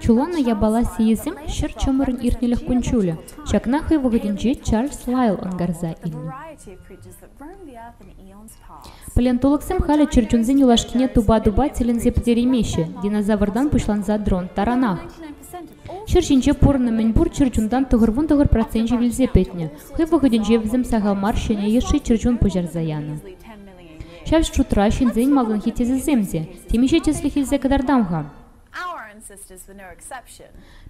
Чуланӑ япала сийӗсем ҫӗр чӑмӑрӗн иртнӗлӗх кун-ҫулӗ. Ҫакна хӑй вӑхӑтӗнче Чарльз Лайл ӑнкарса илнӗ. Палеонтологсем халӗ чӗрчунсен юлашкине тупа-тупа тӗлӗнсе пӗтереймеҫҫӗ, динозавртан пуҫланса дрон таранах. Ҫӗр ҫинче пурӑннӑ мӗнпур чӗрчунтан тӑхӑрвун-тӑхӑр проценчӗ вилсе пӗтнӗ. Хӑй вӑхӑтӗнче вӗсем сахал мар ҫӗнӗ йышши чӗрчун пуҫарса янӑ. Ҫав шутра ҫынсен малтанхи тӗсӗсем те темиҫе тӗслӗх илсе кӑтартам-ха.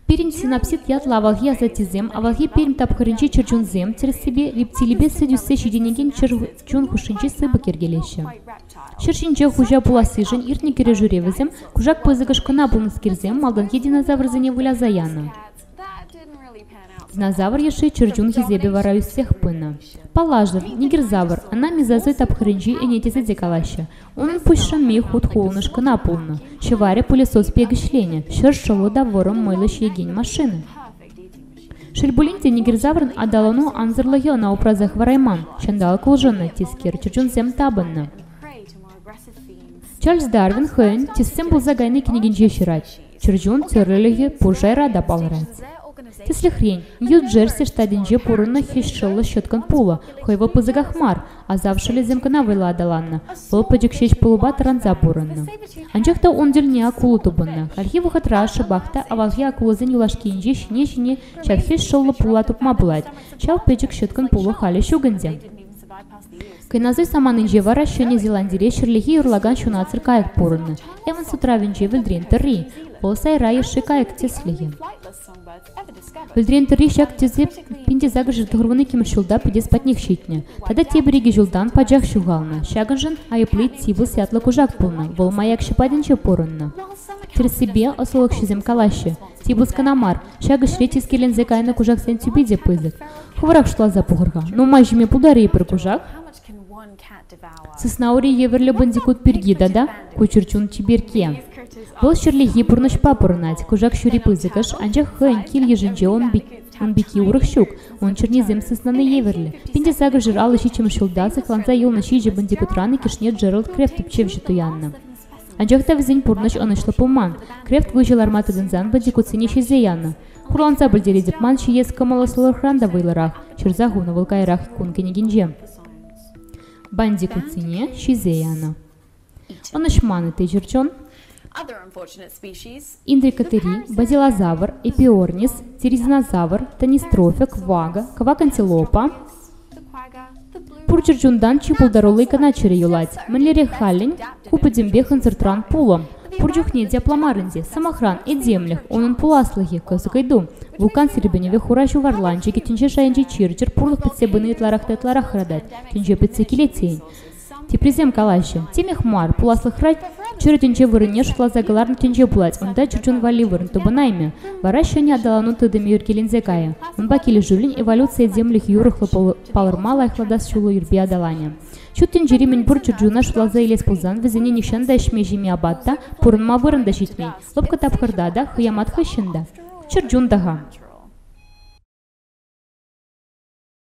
Пирӗн синапсит ятлӑ авалхи асаттесем авалхи Пермь тапхӑрӗнчи чӗрчунсем тӗрӗссипе рептилипе сӗт ӳссе ҫитӗнекен чӗрчун хушшинчи сыпӑк йӗркелеҫҫӗ. Ҫӗр ҫинче хуҫа пулассишӗн иртнӗ кӗрешӳре вӗсем кушак пысӑкӑш кӑна пулнӑскерсем малтанхи динозаврсене выляса янӑ. Динозавр йышши чӗрчун хисепӗ вара ӳссех пынӑ. Паллашӑв, нигерзавр, ӑна мезозой тапхӑрӗнчи ӗне тесе те калаҫҫӗ. Унӑн пуҫ шӑмми хут хулӑнӑш кӑна пулнӑ. Ҫӑварӗ пылесос пек ӗҫленӗ, ҫӗр шӑллӑ та вӑрӑм мӑйлӑ ҫиекен машина. Шел пулин те, нигерзаврӑн аталану ансӑрлӑхӗ ӑна упраса хӑварайман. Ҫанталӑк улшӑннӑ, тискер чӗрчунсем тапӑннӑ. Чарльз Дарвин хӑйӗн «Тесем пулса кайни» кӗнекинче ҫырать. Чӗрчун тӗрӗлӗхӗ пур шайра та палӑрать. Тӗслӗхрен, Нью-Джерси штатӗнче пурӑннӑ хӗҫшӑллӑ ҫӑткӑн пулӑ хӑй вӑл пысӑках мар, асав шӑлӗсем кӑна вӑйла аталаннӑ, вӑл пӗчӗк ҫеҫ пулӑпа тӑранса пурӑннӑ. Анчах та ун тӗлне акулу тупӑннӑ. Хальхи вӑхӑтра шӑпах та авалхи акулӑсен юлашкинче ҫине-ҫине ҫак хӗҫшӑллӑ пула тупма пулать. Ҫав пӗчӗк ҫӑткӑн пулӑ халӗ ҫук ӗнтӗ. Кӑназый саманинче вара Ҫӗнӗ Зеландире ҫӗрлехи юрлакан ҫунатсӑр кайӑк пурӑннӑ. Эванс утравӗнче вӗлтрен тӑрри, полоса райӑшши кайӑк тӗслӗхӗ. Вӗлтрен тӑрри ҫак тӗсе Пинтесакӑшӗ тӑхӑрвун иккӗмӗш ҫулта пӗтес патнех ҫитнӗ. Тата тепӗр икӗ ҫултан пачах ҫухалнӑ. Ҫакӑншӑн айӑпли Тибус ятлӑ кушак пулнӑ. Вӑл маякҫӑ патӗнче пурӑннӑ. Тӗрӗссипе, ӑслӑлӑхҫӑсем калаҫҫӗ, Тибус кӑна мар, Ҫак ӗҫре тискерленсе кайнӑ кушаксен тӳпи те пысӑк. Хӑвӑрах шутласа пӑхӑр-ха, нумай ҫиме пултарӗ-и пӗр кушак? Сыснаури евӗрлӗ бандикут пирки тата ку чӗрчун чиперкке. Вӑл ҫӗрлехи пурнӑҫпа пурӑнать. Кушак ҫури пысӑкӑш, анчах хӑйӗн кил-йышӗнче ун пики урӑх ҫук. Ун чӗрнисем сыснана евӗрлӗ. Пинтесакӑ жыр алӑ ҫиччӗмӗш ҫулта сыхланса юлнӑ ҫичӗ бандикутран иккӗшне Джеральд Крефт тӗпчевҫӗ туяннӑ. Анчах та вӗсен пурнӑҫ ӑнӑҫлӑ пулман. Крефт выҫӑ ларма тытӑнсан вӑтикутсене ҫисе янӑ. Хурланса пӗлтеретӗп ман ҫиес кӑмӑллӑ сӑлӑхран та вӑйлӑрах, ҫырса хунӑ вӑл каярах кун кӗнекинче. Бандикутсене ҫисе янӑ. Ӑнӑҫман те чӗрчун. Индрикотери, базилозавр, эпиорнис, терезинозавр, тонистрофик, вага, кӑвак антилопа, пур чӗрчунтан чи пултарулли кӑна чӗрӗ юлать. Мӗнлерех халлӗн? Ку пӗтӗмпех ӑнсӑртран пулӑ. Пур чухне те пламарӑн те, сӑмахран, этемлӗх, унӑн пуласлӑхӗ, кӑсӑк ыйту. Вулкан сирпӗнӗвӗ хура ҫу варланчӑкӗ тӗнче шайӗнчи чир-чӗр пурлӑх пӗтсе пыни ытларах та ытларах хӑратать, тӗнче пӗтсе килет тейӗн. Теприсем калаҫҫӗ: темех мар, пуласлӑхра чӗр тӗнче вырӑнне шутласа кӑларнӑ тӗнче пулать, унта чун валли вырӑн тупӑнаймӗ, вара ҫӗнӗ аталану тытӑмӗ ӳркеленсе кайӗ. Унпа килӗшӳллӗн эволюци этемлӗх юрӑхлӑ палӑрма лайӑхлатас ҫулу ирпе аталанӗ. Ҫут тӗнчери мӗнпур чӗрчуна шутласа илес пулсан, вӗсене нихҫан та ӗҫме-ҫиме апат та, пурӑнма вырӑн та ҫитмен, лӑпкӑ тапхӑрта та, хӑямат хыҫҫӑн та. Чӗрчун та-ха.